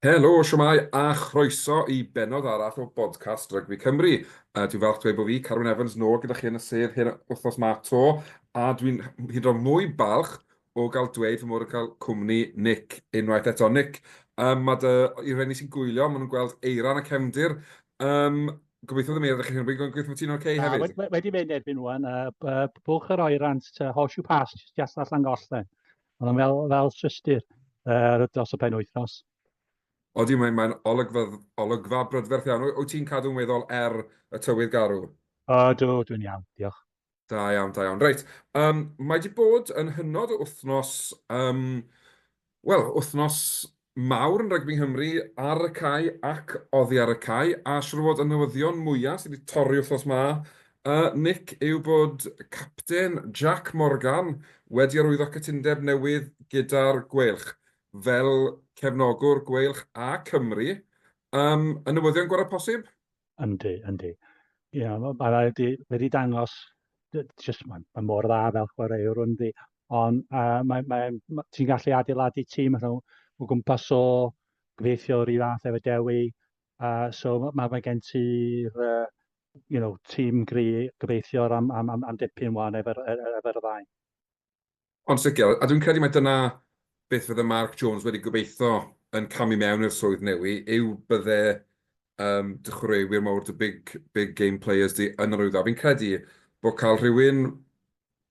Helo, siwmai, a chroeso i benod arall o Bodcast Rygbi Cymru. Uh, dwi'n falch dweud bod fi, Carwyn Evans, nôl gyda chi yn y sedd hyn wythnos ma to, a dwi'n hyd o mwy balch o gael dweud fy mod yn cael cwmni Nick unwaith eto. Nick, um, mae dy, i reni sy'n gwylio, maen nhw'n gweld eiran a cefndir. Um, gobeithio ddim eira chi hyn, gobeithio bod ti'n oce okay hefyd. Wedi, wedi mynd erbyn nhw'n, uh, bwch yr oerant, uh, horseshoe pass, just allan gollen. Ond yn fel, fel systur uh, dros y pen wythnos. Odi, mae'n mae olygfa, olygfa brydferth iawn. Wyt ti'n cadw'n weddol er y tywydd garw? O, dw, dwi'n iawn, diolch. Da iawn, da iawn. Reit, um, mae wedi bod yn hynod o wythnos, um, wel, wythnos mawr yn rygbi Nghymru ar y cae ac oddi ar y cae, a siwr fod y newyddion mwyaf sydd wedi torri wythnos ma, uh, Nick, yw bod capten Jack Morgan wedi arwyddo cytundeb newydd gyda'r Gweilch fel cefnogwr Gweilch a Cymru. Um, y newyddion gorau posib? Yndi, yndi. Ie, yeah, mae ma wedi, wedi dangos, just, mae ma mor dda fel chwaraewr yndi, ond uh, mae, mae, mae, ti'n gallu adeiladu tîm nhw o gwmpas o gyfeithio rhy fath efo Dewi, uh, so mae, mae ma gen ti'r uh, you know, tîm gri gyfeithiwr am, am, am, am dipyn wan efo'r efo, efo, efo ddau. Ond sicr, a dwi'n credu mai dyna beth fydde Mark Jones wedi gobeithio yn camu mewn i'r swydd newi, yw bydde um, dy chwaraewyr mawr, dy big, big game players di yn yr wyddfa. Fi'n credu bod cael rhywun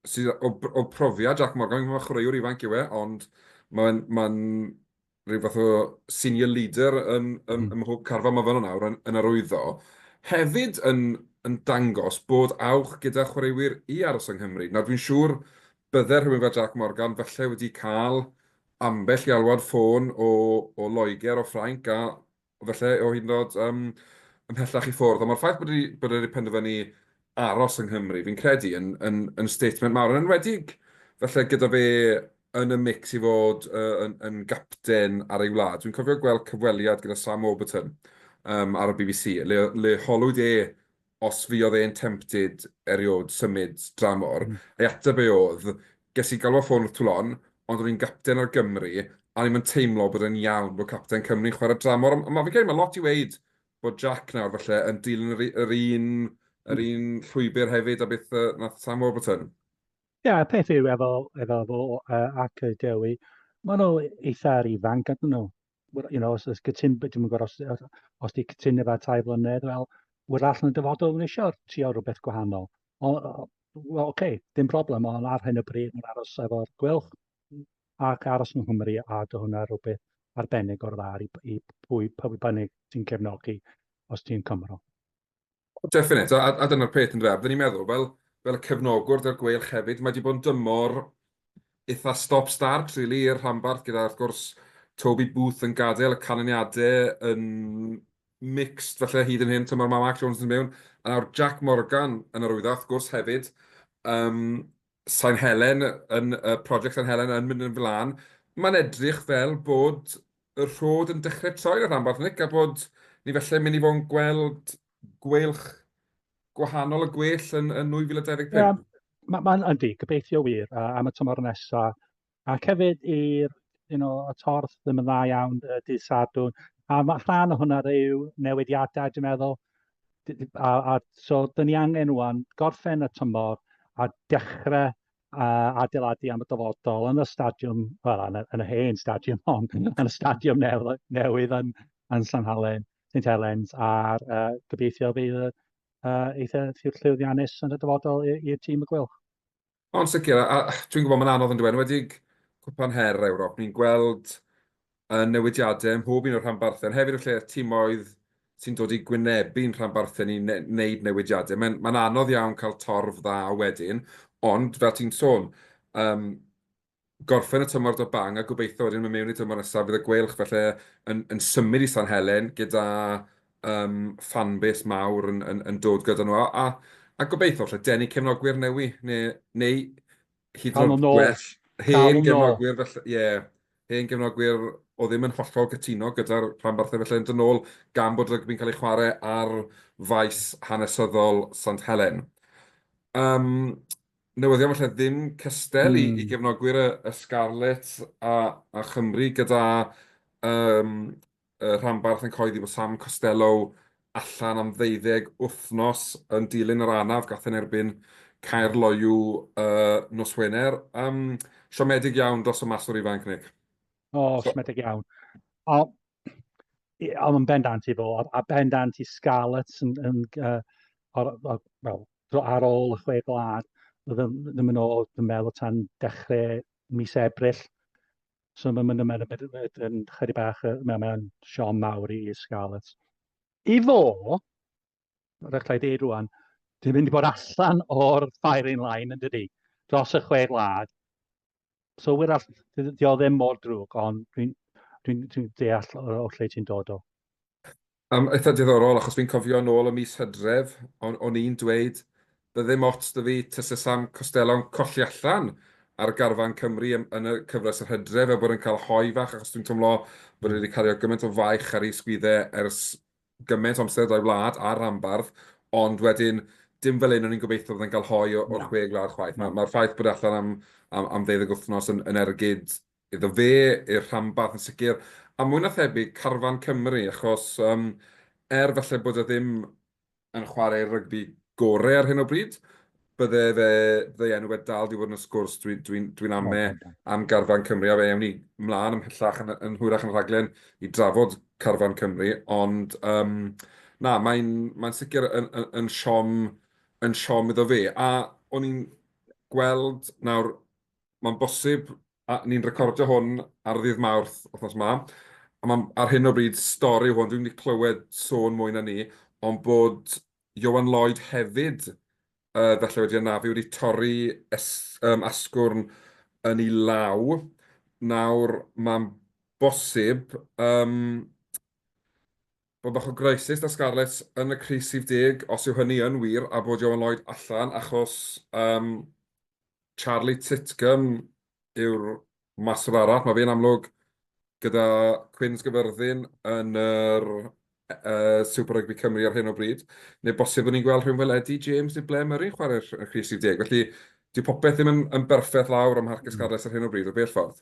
sydd o, o profiad Jack Morgan, mae chwaraewr ifanc yw e, ond mae'n ma rhyw fath o senior leader yn, yn, mm. ym mhob carfan mae fan yna yn, yn arwyddo, hefyd yn, yn dangos bod awch gyda chwaraewyr i aros yng Nghymru. Nawr dwi'n siŵr bydde rhywun fel Jack Morgan falle wedi cael ambell i alwad ffôn o, o Loegr, o Ffrainc, a falle o hyd yn oed yym ymhellach i ffwrdd, ond mae'r ffaith bod bod e wedi penderfynu aros yng Nghymru, fi'n credu, yn, yn, yn statement mawr, yn enwedig falle gyda fe yn y mix i fod uh, yn, yn gapten ar ei wlad. Dwi'n cofio gweld cyfweliad gyda Sam Warburton um, ar y BBC, le, le holwyd e os fuodd e'n tempted eriod symud dramor, a'i ateb e oedd, Ges i galw ar ffôn wrth Toulon, ond o'n i'n gapten ar Gymru, a o'n i'm yn teimlo bod e'n iawn bod capten Cymru'n chwarae dramor, ond ma' fi'n credu ma' lot i weud bod Jack nawr falle yn dilyn yr yr un yr un llwybr hefyd a beth yy nath Sam Warburton. Ie, yeah, y peth yw efo efo fo uh, ac y Dewi, maen nhw eitha'r ifanc ydyn nhw. you know, os oes gytun, dwi'n gwybod os, os, os di cytun efo tai flynedd, wel, wy'r all yn y dyfodol yn eisiau trio rhywbeth gwahanol. O, well, okay, dim problem, ond ar hyn o bryd mae'n aros efo'r gwylch ac aros yng Nghymru a dy hwnna rhywbeth arbennig o'r dda i, i pwy, pwy bynnag sy'n cefnogi os ti'n Cymro. Definite, a, a dyna'r peth yn dweud. Fydden ni'n meddwl, fel, fel y cefnogwr dy'r gweilch hefyd, mae wedi bod yn dymor eitha stop-start, really, i'r rhanbarth, gyda, wrth gwrs, Toby Booth yn gadael y canlyniadau yn mixed, felly hyd yn hyn, tymor mae Mark Jones yn mewn, a nawr Jack Morgan yn arwyddo, wrth gwrs, hefyd. Um, San Helen, yn y project San Helen yn mynd yn flan, mae'n edrych fel bod y rhod yn dechrau troi yn y rhanbarth, Nick, a bod ni felle'n mynd i fod yn gweld gweilch gwahanol y gwell yn, yn 2025. Ie, mae'n ma yndi, gobeithio wir, a am y tymor nesaf, Ac hefyd i'r you know, y torth ddim yn dda iawn y dydd Sadwn. A mae rhan o hwnna yw newidiadau, dwi'n meddwl. A, a so, dyn ni angen rwan gorffen y tymor a dechrau uh, adeiladu am y dyfodol yn y stadiwm, wel, yn, yn y hen stadiwm hon, yn y stadiwm newydd, newydd yn, yn San Halen, St Helens, a'r uh, gobeithio bydd uh, eitha llwyddiannus yn y dyfodol i'r tîm y gwylch. Ond sicr, a dwi'n gwybod mae'n anodd yndyw e, yn enwedig Cwpan Her Ewrop, ni'n gweld y newidiadau ym mhob un o'r rhanbarthau, ond hefyd y lle timoedd sy'n dod i gwynebu'n rhanbarthau ni ne wneud newidiadau. Mae'n ma anodd iawn cael torf dda wedyn, ond fel ti'n sôn, um, gorffen y tymor 'da bang a gobeithio wedyn mynd mewn i'r tymor nesaf fydd y Gweilch falle yn symud i San Helen gyda fan base mawr yn dod gyda nhw a gobeithio falle denu cefnogwyr newydd neu hyd yn oed gwell hen gefnogwyr falle, ie, hen gefnogwyr oedd ddim yn hollol cytuno gyda'r rhanbarthau falle yn dod nôl gan bod rygbi'n cael ei chwarae ar faes hanesyddol Sant Helen. Newyddion falle ddim cystel i gefnogwyr y Scarlets a Chymru gyda rhanbarth yn cyhoeddi bod Sam Costelow allan am ddeuddeg wythnos yn dilyn yr anaf gath yn erbyn Caerloyw nos Wener. Siomedig iawn dros y maswr ifanc, Nick. O, siomedig iawn. ond yn bendant i fo, a, a bendant i Scarlets yn, yn, uh, ar, ar, well, ar ôl y chwe blad, ddim, ddim yn ôl, dwi'n meddwl, tan dechrau mis Ebrill. So mae'n mynd yn mynd yn chyri bach, mae'n siom mawr i Scarlets. I fo, Mae'n rhaid i ddeud rwan, dwi'n mynd i bod allan o'r firing line yn dydy, dros y chwe gwlad. So wir all, di o ddim mor drwg, ond dwi'n dwi, dwi deall o, o lle ti'n dod o. Um, eitha diddorol, achos fi'n cofio yn ôl y mis hydref, o'n, on i'n dweud, bydde ddim ots dy fi tysa Sam Costello'n colli allan ar garfan Cymru yn, yn y cyfres yr hydref, a bod yn cael hoi fach, achos dwi'n teimlo bod wedi cario gymaint o faich ar ei sgwydde ers gymaint o amser da'i wlad a'r rhanbarth, ond wedyn, dim fel hyn o'n i'n gobeithio fydda'n cael hoi o'r chwe gwlad chwaith. Mae'r ffaith bod e allan am, am, am ddeuddeg wythnos yn, yn ergyd iddo fe, i'r rhanbarth yn sicr, a mwy na thebyg carfan Cymru, achos um, er falle bod e ddim yn chwarae rygbi gorau ar hyn o bryd, bydde fe, bydde enw fe dal di fod yn y sgwrs, dwi'n dwi, dwi, dwi ame am garfan Cymru, a fe ewn ni mlaen ymhellach yn, yn hwyrach yn rhaglen i drafod carfan Cymru, ond um, na, mae'n mae sicr yn, yn, yn siom yn siom iddo fe, a o'n i'n gweld nawr, mae'n bosib, a ni'n recordio hwn ar ddydd mawrth othnos ma, a mae ar hyn o bryd stori hwn, dwi'n wedi clywed sôn mwy na ni, ond bod Ioan Lloyd hefyd yy falle wedi anafu, wedi torri es- yym asgwrn yn ei law. Nawr mae'n bosib yym bod bach o greisys 'da Scarlets yn y crys rhif deg, os yw hynny yn wir, a bod Ioan Lloyd allan achos yym Charlie Titcombe yw'r Maswr arall, mae fe'n amlwg gyda Cwyn Sgafyrddin yn yr Super Rugby Cymru ar hyn o bryd, neu bosib bod ni'n gweld rhywun fel Eddie James neu Blair Murray'n chwarae'r crys 10. Felly, dyw popeth ddim yn, yn berffaith lawr am Harcus Carles ar hyn o bryd, o bell ffordd.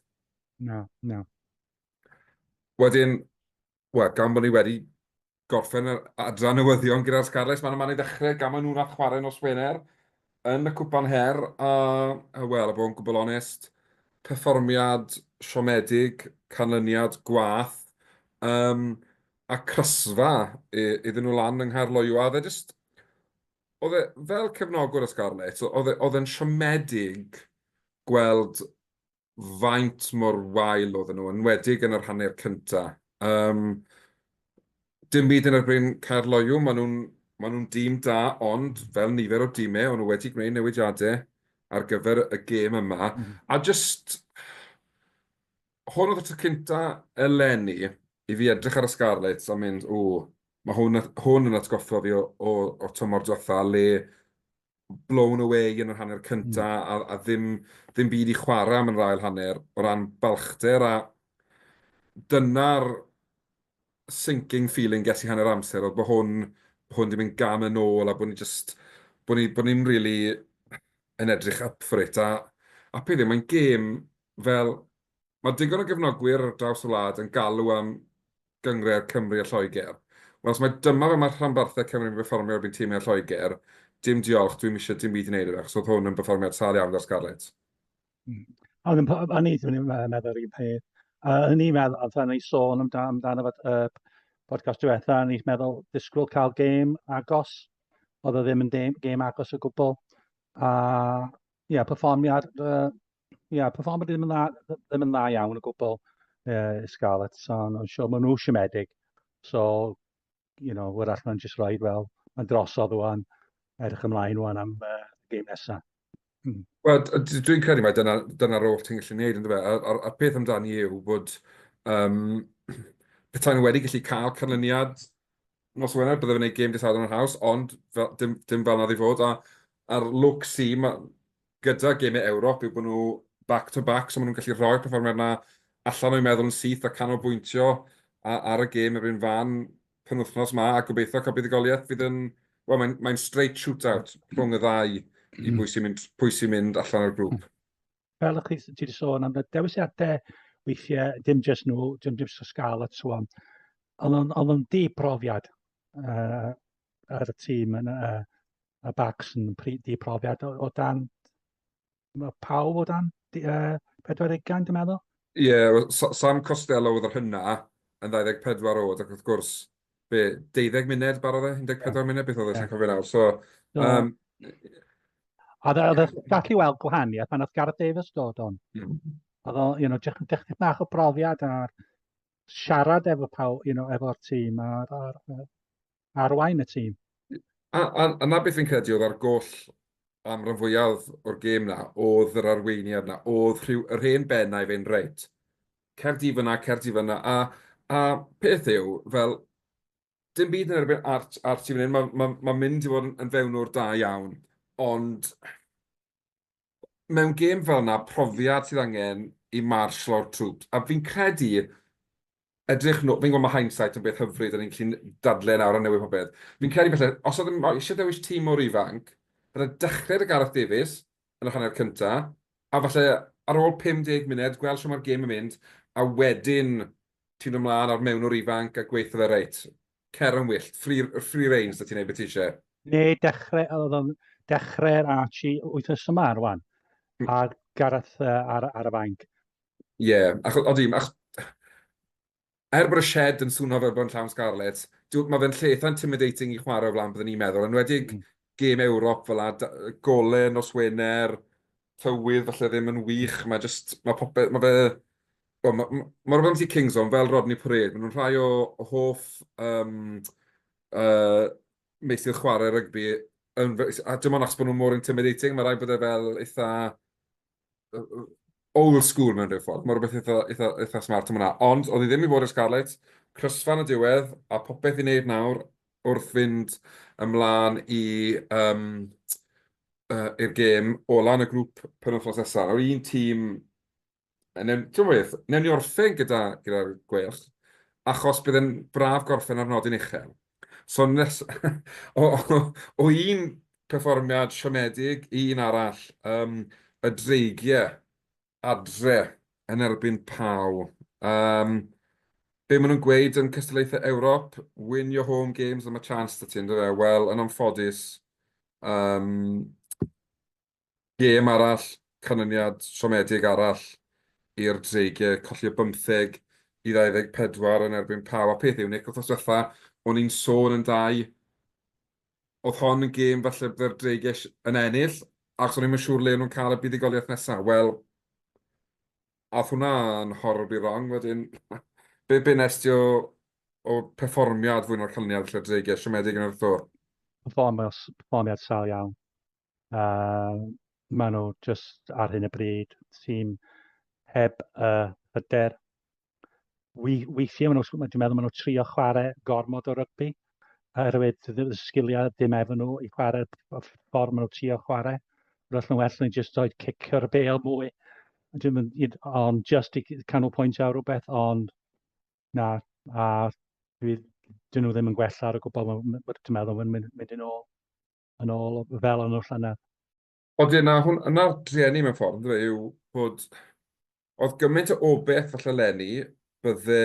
Na, na. Wedyn, wel, gan bod ni wedi gorffen yr adran newyddion gyda'r Scarlets, mae'n yma i ddechrau, gan maen nhw'n rhaid chwarae nos Wener yn y Cwpan Her, a, a wel, a bod yn gwbl onest, perfformiad siomedig, canlyniad gwath, um, a crysfa iddyn nhw lan yng Nghaerloyw, a oedd e just, oedd e fel cefnogwr y Scarlets, oedd e, oedd e'n siomedig gweld faint mor wael oedden nhw, yn enwedig yn yr hanner cynta. Um, dim byd yn erbyn Caer Loyw, maen nhw'n ma nhw dîm da, ond fel nifer o dîmau, o'n nhw wedi gwneud newidiadau ar gyfer y gêm yma. Mm -hmm. A just, hwn oedd y tro cynta eleni i fi edrych ar y Scarlets a mynd, o, mae hwn, hwn yn atgoffa fi o, o, o tymor diwetha le blown away yn yr hanner cynta mm. a, a ddim, ddim byd i chwarae am yn rhael hanner o ran balchder a dyna'r sinking feeling ges i hanner amser oedd bod hwn, bod hwn ddim yn gam yn ôl a bod ni just, bod ni, bod ni'n really yn edrych up for it a, a peth yw, mae'n gêm fel, mae digon o gefnogwyr ar draws y wlad yn galw am gynghrair Cymru a Lloegr. Wel os mae dyma fel mae rhanbarthau Cymru yn perfformio erbyn timau Lloegr, dim diolch, dwi'm eisiau dim byd i wneud â fe achos oedd hwn yn berfformiad sâl iawn gan Scarlett. Mm. Ond yn, yn i, dwi'n meddwl yr un peth. Uh, yn i'n meddwl, oedd ni sôn amdano, amdano fod uh, podcast diwetha, yn i'n meddwl disgwyl cael gêm agos, oedd o ddim yn gêm agos o gwbl. A, ie, yeah, perfformiad uh, Ia, perfformiad ddim yn dda, ddim yn dda iawn o gwbl uh, Scarlett, so nhw'n sio, maen nhw siomedig. So, you know, wrach nhw'n just rhaid, wel, mae'n drosodd o'n edrych ymlaen o'n am uh, game nesaf. Hmm. Wel, dwi'n credu mae dyna'r dyna, dyna oll ti'n gallu gwneud, ynddo fe? A'r, ar, ar peth amdani yw bod um, petai nhw wedi gallu cael canlyniad nos Wener, byddai fe'n gwneud game dydd Sadwrn yn haws, ond fel, dim, dim fel nad i fod. A, a'r look si, mae gyda gemau Ewrop yw bod nhw back to back, so maen nhw'n gallu rhoi'r perfformiad 'na allan o'u meddwl yn syth a canolbwyntio ar y gêm yr un fan penwythnos 'ma a gobeithio cael buddugoliaeth fydd yn... wel, mae'n mae'n straight shootout rhwng y ddau i bwy sy'n mynd pwy sy'n mynd allan o'r grŵp. Fel ych chi ti 'di sôn am y dewisiadau weithiau, dim jyst nhw, dim jyst y Scarlets so on, ond o'n- o'dd o'n dibrofiad yy ar y tîm yn yy Mae Bacs yn di profiad o, o dan... Mae pawb o dan uh, 40 ugain, dwi'n meddwl. Ie, yeah, Sam Costello oedd yr hynna yn 24 oed, ac wrth gwrs, be, 12 munud barodd e, 14 yeah. munud, beth oedd e, yeah. cofio nawr. So, so um, oedd e, oedd e gallu weld gwahaniaeth pan oedd Gareth Davies dod o'n. Mm. Oedd o, you know, dechrau bach o brofiad ar siarad efo pawb, you know, efo'r tîm, a'r, ar, arwain y tîm. A, a, a na beth fi'n credu oedd ar goll am rhan fwyaf o'r gêm na, oedd yr arweiniad na, oedd rhyw, yr hen bennau fe'n reit. Cerdi fyna, cerdi fyna, a, a peth yw, fel, dim byd yn erbyn art, art i fan hyn, mae'n ma, ma mynd i fod yn, yn fewnwr da iawn, ond mewn gêm fel yna, profiad sydd angen i marsh lawr troops, a fi'n credu, edrych nhw, fi'n gwybod mae hindsight yn beth hyfryd, a ni'n gallu dadle nawr a newid popeth. Fi'n credu felly, os oedd eisiau dewis tîm mor ifanc, byddai dechrau dy Gareth Davies yn y hanner cynta, a falle ar ôl 50 munud, gweld sio mae'r gêm yn mynd, a wedyn ti'n ymlaen ar mewnwr ifanc a gweithio fe reit. Cer yn wyllt. Free, free range, da ti'n ei beth eisiau. Ne, dechrau, oedd o'n dechrau'r Archie wythnos yma ar wan. Hmm. A Gareth uh, ar, ar y fainc. Ie, yeah, ac oedd dim, ac er bod y shed yn swnio fel bod yn llawn Scarlets, mae fe'n lleith intimidating i chwarae o flaen byddwn ni'n meddwl, yn wedi'r mm. gêm Ewrop fel a gole nos Wener, tywydd falle ddim yn wych, mae jyst, mae popeth, mae fe, well, mae, mae, mae rhywbeth am si Kings on fel Rodney Parade, maen nhw'n rhai o, o hoff um, uh, meisydd chwarae rygbi, yn, a dim ond achos bod nhw'n mor intimidating, mae rhaid bod e fel eitha old school mewn rhyw ffordd, mae rhywbeth eitha, eitha, eitha smart yma. Ond, oedd hi ddim i fod i'r Scarlets, crysfan y diwedd, a popeth i wneud nawr wrth fynd ymlaen i yym yy i'r gêm ola'n y grŵp penwythnos nesa. Nawr un tîm yy newn t'mo' beth, newn ni orffen gyda gyda'r Gweilch achos bydd e'n braf gorffen ar nodyn uchel. So nes- o o o un perfformiad siomedig i un arall, yym y dreigie adre yn erbyn Pau. Yym, be maen nhw'n gweud yn cystadlaethau Ewrop, win your home games a ma' chance 'da ti yndyw e? Wel, yn anffodus, yym, gêm arall, canlyniad siomedig arall i'r Dreigiau, colli o 15 i 24 yn erbyn Pau. A peth yw, Nick, wythnos diwetha, o'n i'n sôn yn dau oedd hon yn gêm falle bydde'r Drageish yn ennill, achos o'n i'm yn siŵr le o'n nhw'n cael y buddugoliaeth nesaf. Wel, ath hwnna'n horribly wrong wedyn. Be, be nes ti o, o perfformiad fwy na'r canlyniad falle Drageish, siomedig yn yr wrthwr? Perfformiad, perfformiad sal iawn. A maen nhw jyst ar hyn y bryd tîm heb y hyder. Weithiau maen nhw, dwi'n meddwl maen nhw trio chwarae gormod o rygbi, oherwydd y sgiliau dim efo nhw i chwarae ffordd maen nhw trio chwarae. Roedd nhw'n well nhw'n jyst oed cicio'r bel mwy. Ond jyst i canol pwynt ar rhywbeth, ond na, a dwi, dyn nhw ddim yn gwella ar y gwbl, dwi'n meddwl, mae'n mynd yn ôl. yn ôl fel o'n nhw llynedd. Ond ie, na, hwn, yna'r drueni mewn ffordd, ynddo fe, yw bod... Oedd gymaint o obeth falle lenni, bydde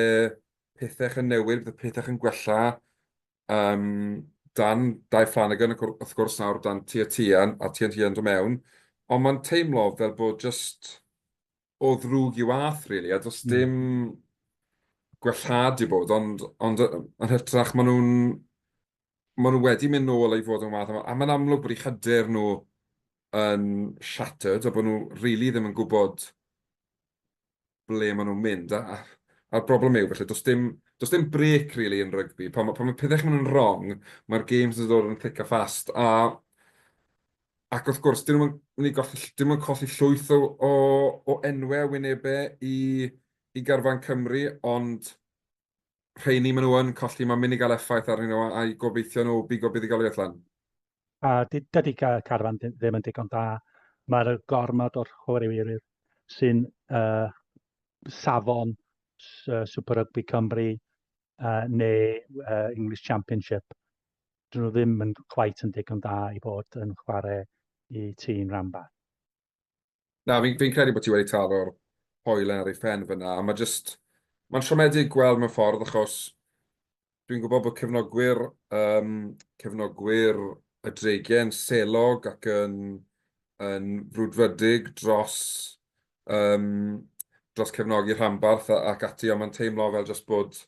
pethau yn newid, bydde pethau yn gwella. Um, dan Dai Flanagan, wrth gwrs, nawr dan Tia Tian, a Tian Tian do mewn. Ond mae'n teimlo fel bod just o ddrwg i wath, really, a does hmm. dim mm. gwellhad i bod, ond, ond yn hytrach maen nhw'n Maen nhw wedi mynd nôl i fod yn wath a mae'n amlwg bod eu hyder nhw yn shattered a bod nhw rili ddim yn gwybod ble maen nhw'n mynd a'r broblem yw felly does dim does dim brêc rili yn rygbi pan mae pethau'n mynd yn wrong mae'r games yn dod yn thick a fast a ac wrth gwrs dyn nhw'n mynd i golli dyn nhw'n colli llwyth o o enwau a wynebau i i garfan Cymru ond rheini maen nhw yn colli, mae'n mynd i gael effaith arnyn nhw a'i gobeithio nhw bigo buddigoliaeth lan. A dydy Carfan ddim yn digon da. Mae'r gormod o'r chwaraewyr sy'n uh, safon uh, Super Rugby Cymru uh, neu uh, English Championship. Dyn nhw ddim yn cwait yn digon da i bod yn chwarae i tîm rhanbarth. Na, fi'n fi credu bod ti wedi taro'r hoelen ar ei phen fyna, a mae jyst... Mae'n siomedig gweld mewn ffordd, achos dwi'n gwybod bod cefnogwyr, um, cefnogwyr y Dregen selog ac yn, yn frwdfrydig dros, um, dros cefnogi rhanbarth ac ati, ond mae'n teimlo fel jyst bod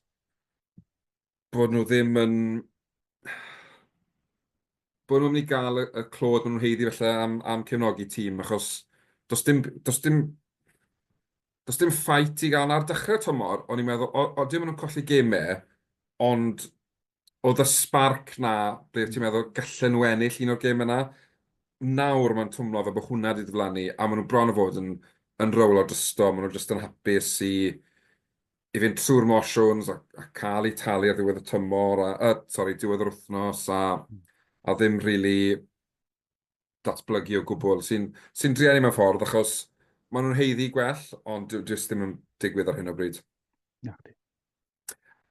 bod nhw ddim yn... bod nhw'n mynd i gael y, y clod maen nhw'n heiddi felly am, am cefnogi tîm, achos does dim, does dim, does dim ffait i gael ar dechrau tymor, o'n i'n meddwl, o, o, dim ond colli gemau, ond oedd y sparc na, ble ti'n meddwl gallen nhw ennill un o'r gem yna, nawr mae'n twmlo fe bod hwnna wedi diflannu, a maen nhw bron o fod yn, yn rowlo drysto, maen nhw jyst yn hapus i, i fynd trwy'r motions a, a cael ei talu ar ddiwedd y tymor, a, a sorry, diwedd yr wythnos, a, a ddim rili really datblygu o gwbl, sy'n sy drian i mewn ffordd, achos maen nhw'n heiddi gwell, ond dwi jyst ddim yn digwydd ar hyn o bryd. Na, di.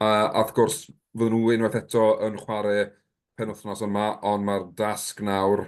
A, a wrth gwrs, fydden nhw unwaith eto yn chwarae penwthnos yma, ond mae'r dasg nawr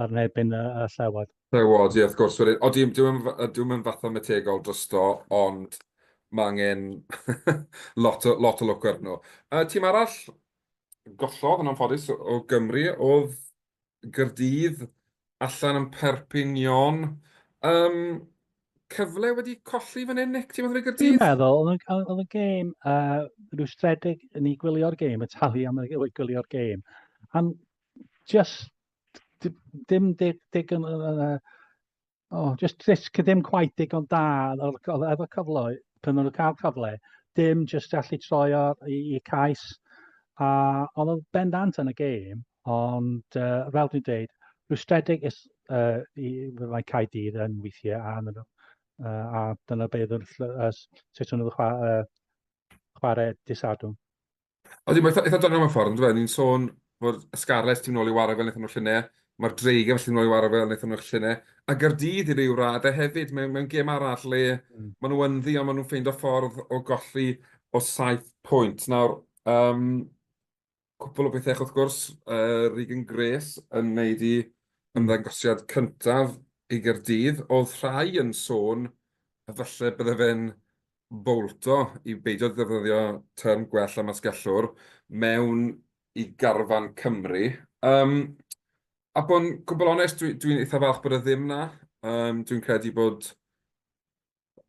ar nebyn y, y llewod. Llewod, ie, wrth gwrs. Wedyn, o, dwi'n dwi dwi yn fathemategol drosto, ond mae angen lot, o, lot o lwc ar nhw. Uh, tîm arall gollodd yn anffodus o Gymru oedd Gyrdydd allan yn Perpignan. Um, cyfle wedi colli fan hyn, Nick, ti'n meddwl i Gyrdydd? Dwi'n meddwl, oedd y gêm uh, rhyw stredig yn ei gwylio'r gêm, y talu am ei gwylio'r gêm. Am just dim dig, dig yn, uh, oh, just, just ddim quite digon da efo cyfle, pan nhw'n cael cyfle, dim just allu troi i, i cais. A oedd o'n bendant yn y gêm, ond uh, fel dwi'n dweud, rwystredig is, uh, i, mae cael dydd yn weithiau a, uh, a dyna beth yw'r uh, sut nhw'n chwarae, uh, chwarae disadwn. Odi, mae'n eitha doniol mewn ffordd, yn dweud. Ni'n sôn bod y Scarlets ti'n nôl i wara fel wnaethon nhw'r llunau, mae'r Dreigiau felly nôl i wara fel wnaethon nhw'r llunau, a Gaerdydd i ryw raddau hefyd, mewn, mewn gêm arall le mm. maen nhw ynddi, ond maen nhw'n ffeindio ffordd o golli o saith pwynt. Nawr, um, cwpl o bethau, wrth gwrs, uh, Regan Grace yn wneud i ymddangosiad cyntaf i Gaerdydd, oedd rhai yn sôn a falle bydde fe'n fowlto i beidio defnyddio term gwell am asgellwr mewn i garfan Cymru. Um, a bod yn gwbl onest, dwi'n dwi, dwi eitha falch bod e ddim na. Um, dwi'n credu bod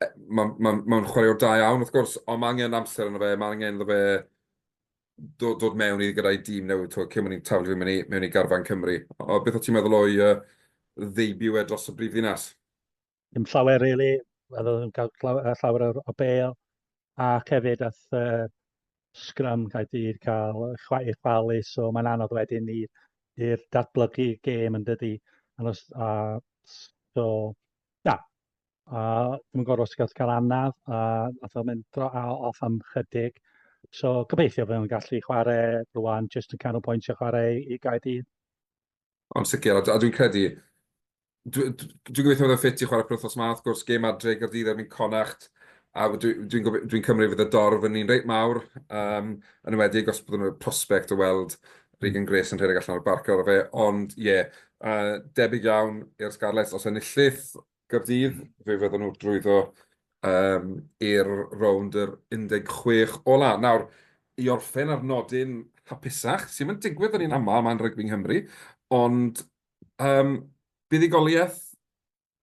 e, mae'n ma, ma, ma chwaraewr da iawn, wrth gwrs, ond mae angen amser yna fe, mae angen iddo fe dod, dod mewn i gyda'i dîm newydd, to, cyn mwyn i'n taflu mewn i, mewn i garfan Cymru. O, beth o ti'n meddwl o'i uh, ddeibio e dros y brif ddinas? ddim llawer really, a ddim yn cael llawer o bel, ac hefyd ath uh, Scrum Caerdydd cael chwaith chwalu, so mae'n anodd wedyn i'r datblygu gêm yn dydy. And os, a, so, na, a ddim yn gwybod os gael cael anaf, a nath o'n mynd dro a off am chydig. So, gobeithio fe o'n gallu chwarae rwan, just yn canolbwyntio chwarae i Gaerdydd. Ond sicr, a dwi'n credu... Dwi'n gobeithio bod e'n ffit i chwarae penwythnos ma, wrth gwrs, gêm adre i Gaerdydd erbyn Connacht, a dwi'n cymryd fydd y dorf yn un reit mawr, yn enwedig os bydden nhw'n prospect o weld Regan Grace yn rhedeg allan o'r barc ar ôl fe, ond ie, debyg iawn i'r Scarlets os enillith, Gaerdydd, fe fyddan nhw drwyddo yym i'r rownd yr 16 ola'. Nawr, i orffen ar nodyn hapusach, sy ddim yn digwydd yn un aml, mae'n rygbi Nghymru, ond yym buddugoliaeth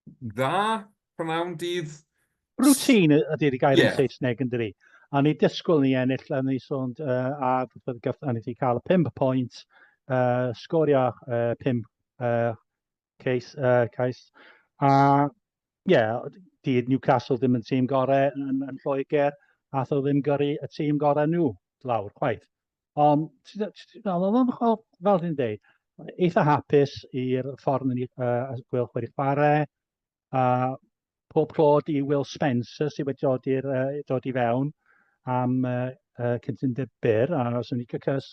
dda, prynhawn dydd? Routine ydy'r gair yn Saesneg yn dydi? A ni dysgwyl ni ennill, a ni sôn uh, a gath, a ni wedi cael y pimp pwynt, uh, sgorio uh, pimp uh, Cais, uh, cais. A, ie, yeah, di Newcastle ddim yn tîm gorau yn, yn Lloegr, a tho ddim gyrru y tîm gorau nhw lawr, chwaith. Ond, fel dwi'n dweud, eitha hapus i'r ffordd ni uh, gweld chwarae chwarae, a pob clod i Will Spencer sydd wedi dod, i'r, uh, dod i fewn am uh, uh, cyntundeb byr, a os yn cys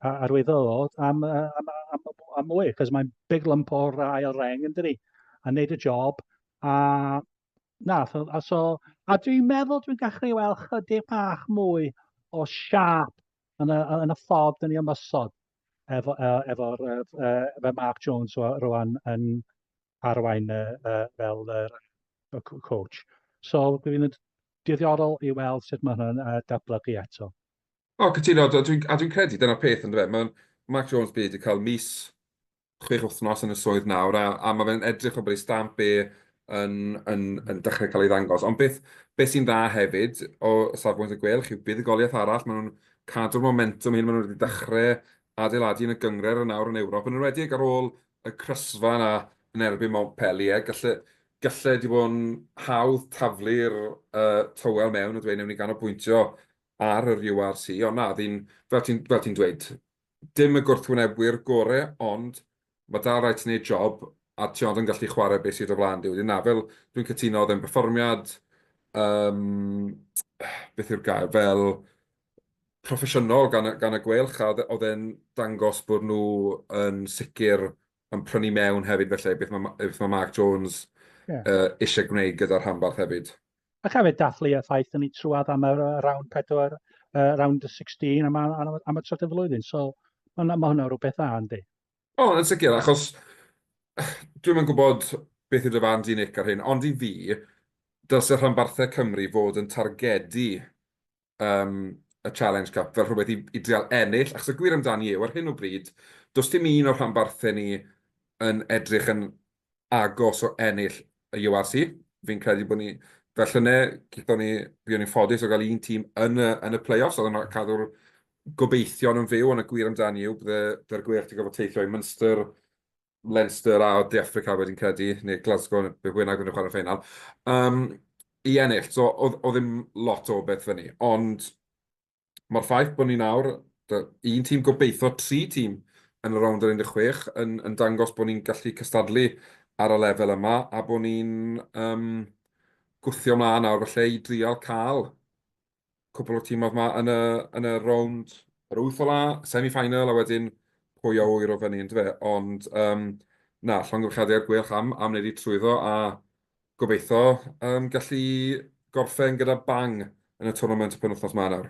arwyddodd am, uh, am, am, am, am mwy, cos mae'n big lump o'r ail reng yn dydi, a wneud y job, a na, so, a, so, a dwi'n meddwl dwi'n gallu weld chydig bach mwy o siap yn y, yn y ffordd yn ei ymosod efo'r efo, efo, efo, efo Mark Jones rwan yn, arwain y, y, fel y, y coach. So, dwi'n diddorol i weld sut mae hwnna'n uh, datblygu eto. O, oh, cytuno, a dwi'n dwi credu dyna'r peth yn dweud. Mae Mark Jones byd wedi cael mis chwech wythnos yn y swydd nawr, a, a mae fe'n edrych o bod ei stamp e yn, yn, yn dechrau cael ei ddangos. Ond beth, beth sy'n dda hefyd o safbwynt y gwelch yw buddugoliaeth arall, maen nhw'n cadw'r momentum hyn, maen nhw wedi dechrau adeiladu yn y gyngred yn nawr yn Ewrop, yn enwedig ar ôl y crysfa yna yn erbyn Montpellier, galle, galle di bod yn hawdd taflu'r uh, tywel mewn a dweud newn ni ganolbwyntio ar yr URC, ond na, ddyn, fel ti'n ti, ti dweud, dim y gwrthwynebwyr gore, ond mae dal rhaid ti'n gwneud job a ti ond yn gallu chwarae beth sydd o flaen di. Wedyn na, fel dwi'n cytuno, oedd e'n berfformiad, um, beth yw'r gair, fel proffesiynol gan y, gan y gweilch, a oedd e'n dangos bod nhw yn sicr yn prynu mewn hefyd felly, beth mae, beth mae Mark Jones yeah. uh, eisiau gwneud gyda'r rhanbarth hefyd. Ac hefyd dathlu y ffaith yn ei trwad am y round 4, uh, round 16 am, am, am y trydydd flwyddyn, so mae ma hwnna rhywbeth dda, yndi? O, yn sicr, achos dwi'n yn gwybod beth yw dy fan di, Nick, ar hyn, ond i fi, dylse rhanbarthau Cymru fod yn targedu um, y Challenge Cup fel rhywbeth i, i dreol ennill, achos y gwir amdani yw, ar hyn o bryd, does dim un o'r rhanbarthau ni yn edrych yn agos o ennill y URC. Fi'n credu bod ni, fel llynau, gyda ni, byddwn ni'n ffodus o gael un tîm yn y, yn y play-offs, oedd yn cadw'r gobeithion yn fyw, ond y gwir amdani yw, byddai'r gwerth i gofod teithio i Munster, Leinster a De Affrica wedyn credu, neu Glasgow, be bynnag oedden nhw'n chwarae'r ffeinal, um, i ennill. So, oedd, oedd ddim lot o beth fyny. Ond mae'r ffaith bod ni nawr, un tîm gobeithio, tri tîm yn y rownd yr 16, yn, yn dangos bod ni'n gallu cystadlu ar y lefel yma, a bod ni'n um, gwthio mlaen nawr falle i drial cael cwpl o tîmodd 'ma yn y yn y rownd yr wyth ola, semi-final a wedyn pwy a ŵyr o fyny yndyfe? Ond yym na, llongyfarchiadau i'r Gweilch am am wneud eu trwyddo a gobeitho yym gallu gorffen gyda bang yn y twrnament y penwythnos 'ma nawr.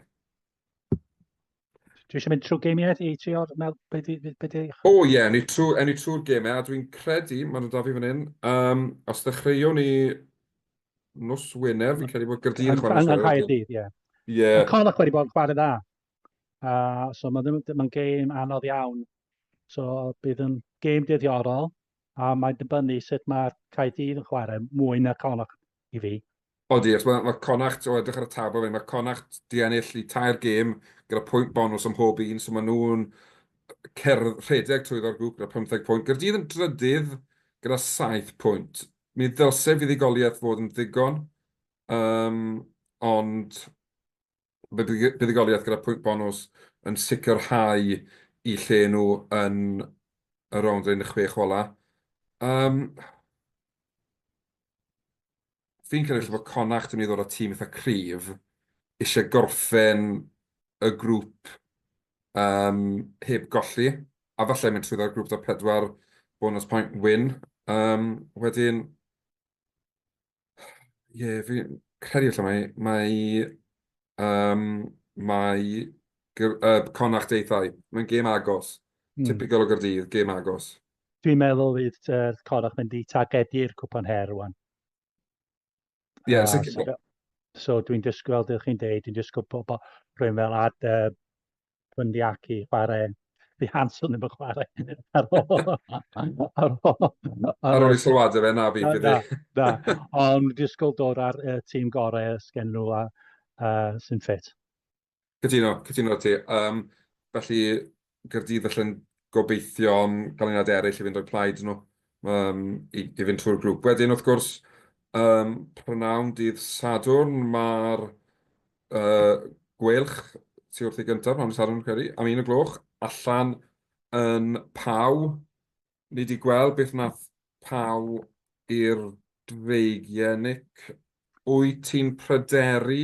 Dwi eisiau mynd trwy geimiau i trio meddwl beth i... Be di... O ie, yeah, ni trwy, e ni trwy'r geimiau, a dwi'n credu, maen nhw'n da fi fan hyn, um, os ddechreuwn ni nos Wener, fi'n credu bod Gyrdydd yn chwarae nos Wener. Anghair dydd, ie. Ie. Mae Connacht wedi bod yn chwarae dda. Uh, so mae'n ma gêm anodd iawn. So bydd yn gêm dyddiorol, a mae'n dibynnu sut mae'r Caerdydd yn chwarae mwy na Connacht i fi. Odi, achos mae, mae Connacht, o edrych ar y tabl fe, mae Connacht di ennill i tair gêm gyda pwynt bonus am mhob un, so maen nhw'n cerdd rhedeg trwyddo'r grŵp gyda 15 pwynt. Gyrdydd yn drydydd gyda 7 pwynt. Mi ddylse fuddugoliaeth fod yn ddigon, um, ond buddugoliaeth gyda pwynt bonws yn sicrhau eu lle nhw yn y rownd yn y chwech ola. Um, fi'n credu bod Connacht yn mynd i ddod â tîm eitha cryf, eisiau gorffen y grŵp um, heb golli, a falle mynd trwyddo'r grŵp da pedwar bonus point win. Um, wedyn, Ie, yeah, fi'n credu allan mae, mae, um, mae uh, Connacht deithau. Mae'n gêm agos. Mm. Typical o Gyrdydd, gêm agos. Dwi'n meddwl fydd uh, Connacht mynd i targedu'r cwpan her rwan. Ie, yeah, uh, so, so dwi'n dysgu, fel ydych chi'n dweud, dwi'n dysgu pobl rhywun fel ad, uh, Bundyaki chwarae The Hanson efo chwarae ar ôl. ar ôl. Ar ôl i sylwada fe na fi. Da, da. Ond disgwyl dod ar y tîm gorau sgen nhw a uh, sy'n ffit. Cytuno, cytuno ti. Um, felly, Gyrdydd allan gobeithio am ganlyniad eraill i fynd o'r plaid nhw um, i, i fynd trwy'r grŵp. Wedyn, wrth gwrs, um, prynawn dydd Sadwrn, mae'r uh, gwelch ti wrth i gyntaf pan siarad yn credu, am un o gloch, allan yn paw. Ni wedi gweld beth nath paw i'r dreigiau, Nick. Wyt ti'n pryderu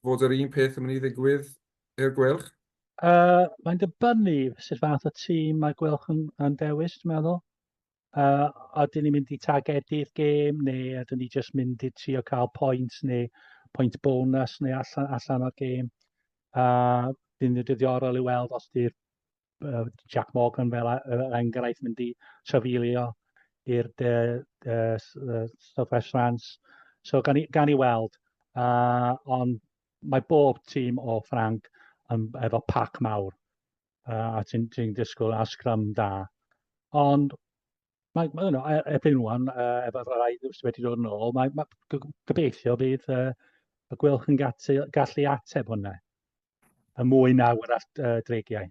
fod yr un peth yn mynd i ddigwydd i'r gwelch? Uh, mae'n dibynnu sut fath o tîm mae gwelch yn, yn dewis, dwi'n meddwl. Uh, oedden ni'n mynd i targedu'r gêm neu oedden ni jyst mynd i trio cael pwynt neu pwynt bonus neu allan, allan o'r gêm. Uh, Bydd yn dyddiorol i weld os di'r uh, Jack Morgan fel uh, enghraifft mynd i trafilio i'r uh, uh, Southwest France. So gan i, gan i weld, uh, ond mae bob tîm o Ffranc yn, efo pac mawr. uh, a ti'n ti disgwyl a sgrum da. Ond mae, mae yno, e, erbyn rwan, uh, efo rhai sydd wedi dod yn ôl, mae, mae gobeithio bydd uh, y gwelch yn gallu, gallu ateb hwnna. Y mwy na wrth uh, dreigiau.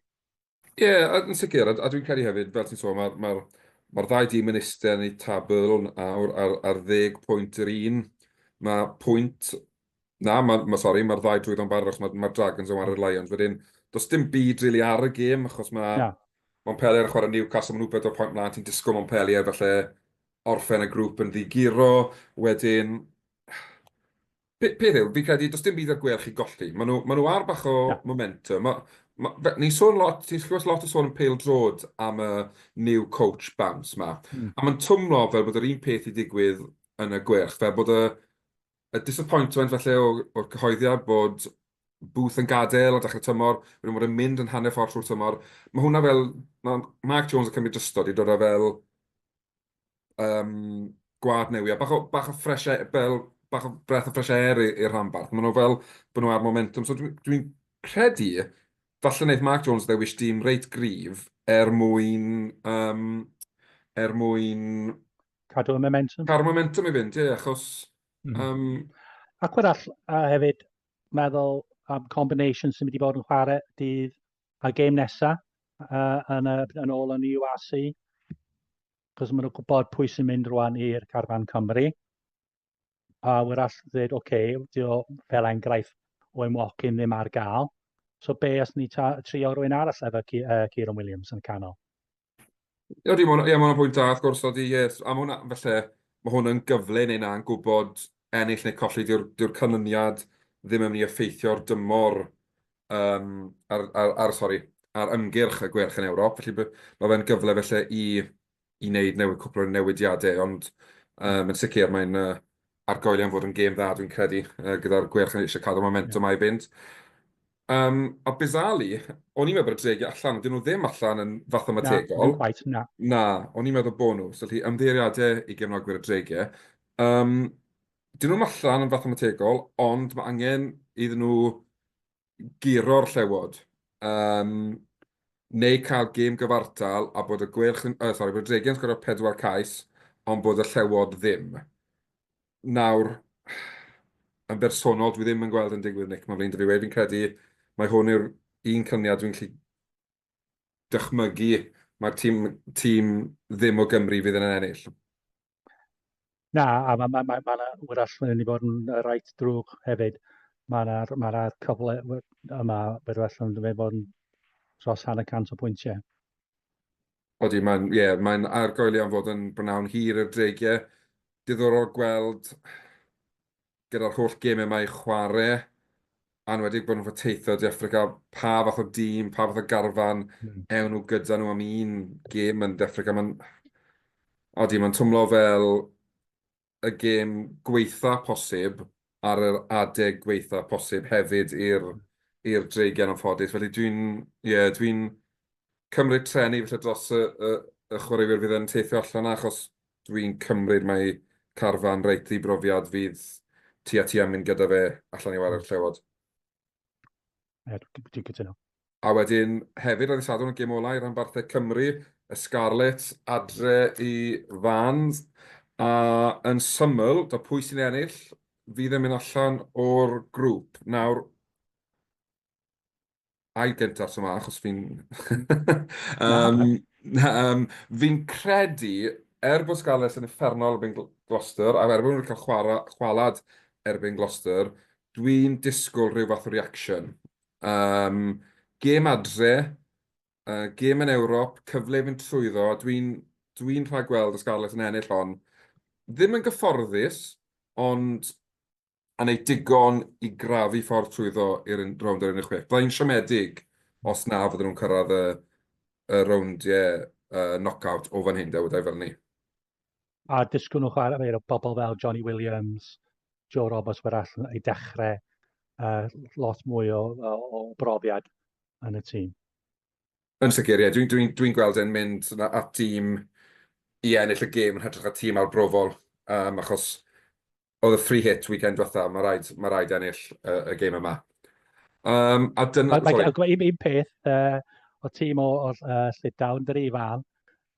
Ie, yeah, yn sicr, a, a dwi'n credu hefyd, fel ti'n sôn, mae'r ma, ma, ma ddau dîm yn eistedd yn eu tabl ar, ar, ar ddeg pwynt yr un. Mae pwynt Na, ma', ma', sori, ma'r ddau drwyddo'n barod, achos ma'r Dragons yn warae'r Lions wedyn. Does dim byd rili ar y gêm, achos ma', Montpellier yn chwarae Newcastle, ma' nhw bedwar pwynt mlaen, ti'n disgwyl Montpellier falle orffen y grŵp yn ddi-guro, wedyn, pe- peth yw, fi'n credu does dim byd ar gwêl chi golli. Ma' nhw, ma' nhw ar bach o momentum. Ma', ma', fe- ni'n sôn lot, ti'n clywed lot o sôn yn pêl-droed am y new coach bounce 'ma, a ma'n twmlo fel bod yr un peth 'di digwydd yn y Gweilch, fel bod y Y disappointment falle o, o'r cyhoeddiad bod Booth yn gadael a dechrau tymor, wedyn bod e'n mynd yn hanner ffordd trwy'r tymor. Mae hwnna fel, mae Mark Jones yn cymryd drystod i dod â fel um, gwad newi, a bach o, bach o fresh air, fel, bach o breath o fresh air i'r rhanbarth. Mae nhw fel bod nhw ar momentum. So dwi'n dwi, dwi credu, falle wneud Mark Jones ddewis dim reit grif er mwyn, um, er mwyn cadw y momentum. Cadw momentum i fynd, ie, achos... Mm. Um... Ac wrach uh, hefyd, meddwl am um, combination sy'n mynd i fod yn chwarae dydd a gêm nesaf uh, yn, uh, yn ôl yn URC. Cos maen nhw'n gwybod pwy sy'n mynd rwan i'r carfan Cymru. pa ŵyr all ddweud, oce, okay, dio o fel enghraifft o ein walk-in ddim ar gael. So be os ni trio rwy'n arall efo uh, Kieran Williams yn y canol? Ie, yeah, mae'n yeah, pwynt da, wrth gwrs, oedd i, yes, am hwnna, felly, mae hwn yn gyfle neu na'n gwybod ennill neu colli, diw'r diw canlyniad ddim yn mynd i effeithio'r dymor um, ar, ar, ar, sorry, ar ymgyrch y gwerch yn Ewrop, felly mae fe'n gyfle felly i i wneud newid, cwpl o newidiadau, ond um, yn sicr mae'n uh, argoelion fod yn gêm dda, dwi'n credu, uh, gyda'r gwerch yn eisiau cadw momentum yeah. a'i fynd. Um, a Bizali, o'n i'n meddwl bod y dregi allan, ond dyn nhw ddim allan yn fathemategol. Na, ddim quite, na. Na, o'n i'n meddwl bod nhw. So, lli, ymddeiriadau i gefnogwyr y dregi. Um, dyn nhw'n allan yn fathemategol, ond mae angen iddyn nhw guro'r llewod, yym, neu cael gêm gyfartal a bod y Gweilch yn... Uh, sorry, bod y Dregiau'n sgorio pedwar cais, ond bod y llewod ddim. Nawr, yn bersonol, dwi ddim yn gweld yn digwydd, Nick, mae'n flin dy fi wedi, fi'n credu mae hwn yw'r un cyniad dwi'n gallu dychmygu mae'r tîm, tîm ddim o Gymru fydd yn ennill. Na, a mae ma, ma, ma 'na wrach yn mynd i fod yn yy reit drwg hefyd. Mae 'na ma' 'na cyfle we- yma bydd well yn mynd i fod yn dros hanner cant o bwyntiau. Odi, mae'n, ie, mae'n argoeli am fod yn bnawn hir i'r dreigiau. Diddorol gweld gyda'r holl gemau yma i chwarae, anwedig bod nhw'n fod teithio De Affrica, pa fath o dîm, pa fath o garfan ewn nhw gyda nhw am un gem yn De Affrica. Mae'n... Odi, mae'n twmlo fel y gem gweitha posib ar yr adeg gweitha posib hefyd i'r Dreigiau yn anffodus. Felly dwi'n, ie, dwi'n cymryd treni falle dros y chwaraewyr fydd yn teithio allan 'na achos Dwi'n cymryd mai carfan reit ddibrofiad fydd ti a ti am mynd gyda fe allan i warae'r Llewod. Ie, dwi'n cytuno. A wedyn hefyd ar y Sadwrn y gêm olau rhan barthau Cymru, y Scarlets adre i Fans, a yn syml, da pwy sy'n ennill fydd yn mynd allan o'r grŵp. Nawr, ai gyntaf tro yma, achos fi'n... um, um, fi'n credu, er bod Scarlets yn effernol erbyn Gloucester, a er bod nhw'n cael chwara, chwalad erbyn Gloucester, dwi'n disgwyl rhyw fath o reaction. Um, gêm adre, uh, gêm yn Ewrop, cyfle fynd trwyddo, dwi'n dwi, rhaid gweld y Scarlets yn ennill hon. Ddim yn gyfforddus, ond a wneud digon i grafu ffordd trwyddo i'r rownd yr 16. Bydda i'n siomedig os na fydden nhw'n cyrraedd y, y rowndiau uh, knock-out o fan hyn, da wedi fel ni. A disgwyl nhw chwarae o bobl fel Johnny Williams, Joe Roberts, mae'r allan ei dechrau uh, lot mwy o, o, o brofiad yn y tîm. Yn sicr, ie. Yeah. Dwi'n dwi, dwi gweld e'n mynd at tîm i ennill y gêm yn hytrach y tîm arbrofol, um, achos oedd y free hit weekend diwetha, mae rhaid, mae rhaid ennill uh, y gêm yma. Um, a dyna... Mae gen i un peth uh, o tîm o, o uh, Llydawn, dyr i fan,